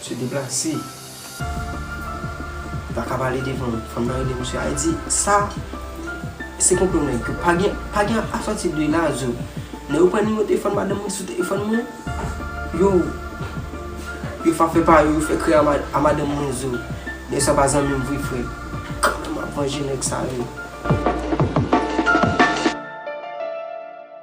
Msye deplase. Li pa kab ale devan. Fanm nan rele msye a li di, sa se konplo nèg yo. Pa gen, pa gen asòti de la zo. Nèg yo pran nimewo telefòn madanm mwen sou telefòn mwen. Yo, yo fa fè pa yo, yo fè krè a madanm mwen zo. Nèg sa pa zanmi m vre frè. Kanmenm m ap vanje nèg sa yo.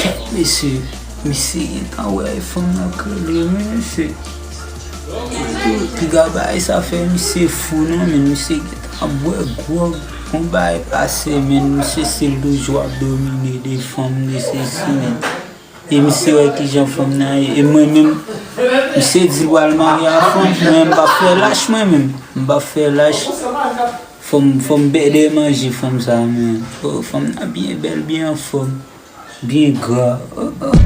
Kèt mesye, misye gentan wè e fanm nan krele wi mesye. Piga bay sa fè misye fou non men misye gentan bwè gwòg bon bay pase men misye se loujou ap domine de fanm de sesi men. E misye wè kijan fanm nan ye e mwen menm misye di l pral marye a fanm mwen m pa fè lach mwen menm m pa fè lach. Fanm fanm bèdè manje fanm sa man oh fanm nan byen bèl byen anfòm byen gra oh oh.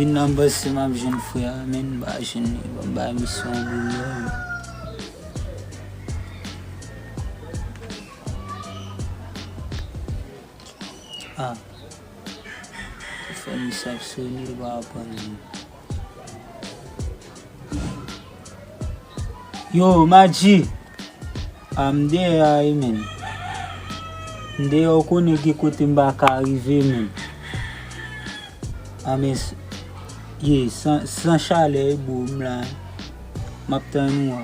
Vin nan bus si map jwenn frè a men m pa jwenn li bon m bay misye yon gwo love. Ah ou fè li saf soni li pa aprann li. Yo Madji Ah m deyè a wi menn. M deyè ou konnen gen kote m pa ka rive menn. Ah men ye san chalè wi boo m la. M ap tann ou a.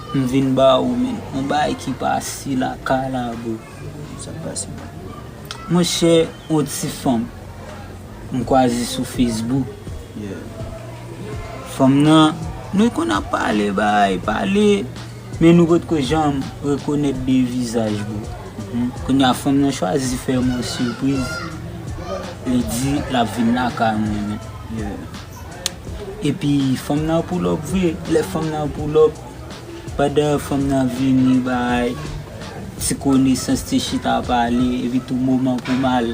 M vin ba ou men. On bagay ki pase lakay la bro. Sak pase la. Mon chè on ti fanm m kwaze sou Facebook. Fanm nan nou konn ap pale bay pale men nou potko janm rekonèt de vizaj bro. Kounya fanm nan chwazi fè m on surprise li di lap vin lakay mwen men. Epi fanm nan pull up vre, lè fanm nan pull up, pandan fanm nan ap vini bay ti konesans, ti chita pale, epi tou moman pou m al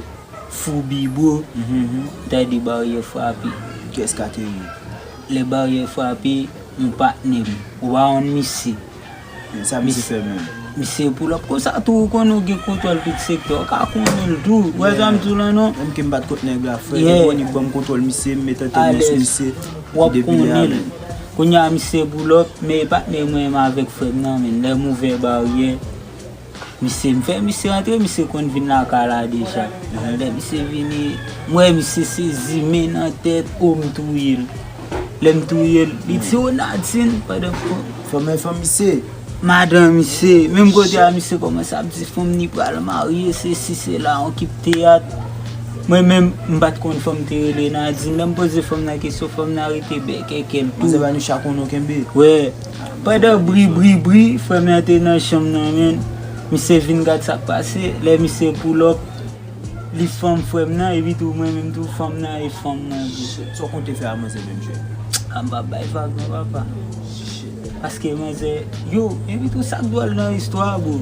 foubi bro, m tande baryè frape. Kès ka te rive? Lè baryè frape, yon patnè m, ou pa konn misye? Men sa misye fè menm. Misye yo pull up konsa tou ou konnen ou gen kontwòl tout sektè ou ka konnen l tou ou wè sa m di w la non. Menm ke m pat kot nèg la frè m konnen m banm kontwòl misye m met entènè sou misye depi lè a menm. Kounya misye pull up men e patnè mwen m avèk frè m nan men lè m ouvè baryè. Misye, m fè misye antre, misye konn vin lakay la deja. Lè misye vini, m wè misye sezi, men nan tèt, o m touye l. Lè m touye l, li di, o Nadin, pandan m kon. Fanm nan fanm misye? Madan misye. Menm kote a misye kòmanse ap di fanm li pral marye, sesi, sela, on kip teyat. Mwen menm, m pa t konn fanm te rele Nadin. Lè m poze fanm nan kesyon, fanm nan rete bèkèkè l tou. Manzè bay nou chak on nou kenbe. Wè. Pandan bri bri bri frèm nan te nan chanm nan men misye vin gad sak pase lè misye pull up li fanm frèm nan epi tou mwen menm tou fanm nan e fanm nan tou. Shit sa w konn te fè a manzè menm jèn. Ah m pa bay vag non papa. Shit. Paske manzè yo epi tou sak dwòl nan istwa a bro.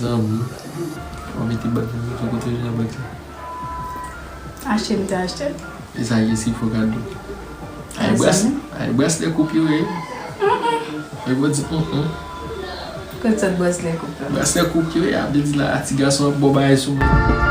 Zanmi wap mete bag la sou kote ou jwenn bag sa. Achte m te achte l. Esa ye si fo kado. A e braslè koup yo ye. Fok ou di humm humm. Kot sot braslè koup la. Braslè koup yo ye a vle di la a ti gason ap bo bagay sou moun.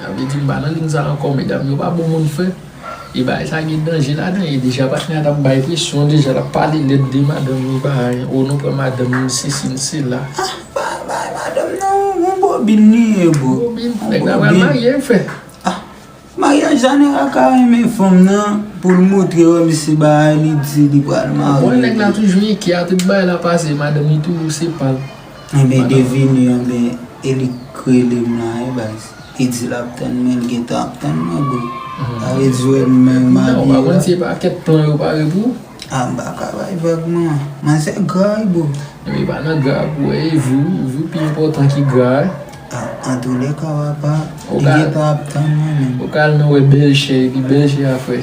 Sa vle di m pa nan ligne sa ankò medam yo pa bon moun frè e bagay sa gen danje ladan e deja patnè a tap bay presyon deja lap pale lèd de madanm ni bagay oh nou pran madanm ni sesi ni sela ah pa bay madanm nan yon bobin li ye bro bobin nèg la pral marye frè ah maryaj zanera ka renmen fanm nan poul moutre yo mesi bagay li di li pral marye bon nèg la toujou enkyè a tout bagay lap pase madanm li toujou se pal. Anben devine yo anben e li k relem la wi baz li di lap tann mwen li gentan ap tann mwen bro sa vle di wè m menm m abiye la. Ou pa konn si e pa kèk plan yo pare pou ou. Ah m pa ka bay vag non. M'en se gra wi bro. Ebyen e pa nan gra a pou wè e jou jou pi enpòtan ki gra a. Ah antoulèka wapa li gentan ap tann mwen menm. Ou ka al nan wè bèlchè epi bèlchè a fè.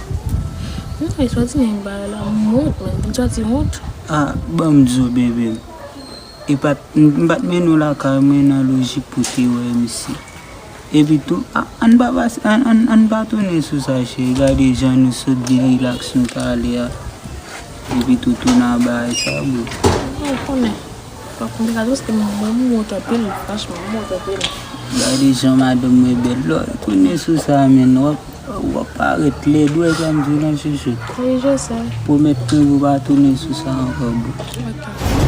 Mwen ta eswati men yon bagay la m wont menm m santi wont. Ah banm zo bebe m. Epat m pat mennen w lakay mwen nan lojik pou w te wè misye. Epi tou ah ann pa pase ann pa tounen sou sa cheri gade jan nou sot byen relax nou t ale a. Epi tou tou nan bagay sa boo. Ou konnen. Fok m te gade paske m wont anpil franchman m wont anpil. Gade jan madanm mwen bèl lè w retounen sou sa menn w ap parèt lèd ou wè sa m di w la chouchoute. Wi je sè. Pwomèt mwen pou w pa tounen sou sa ankò boo. Ok.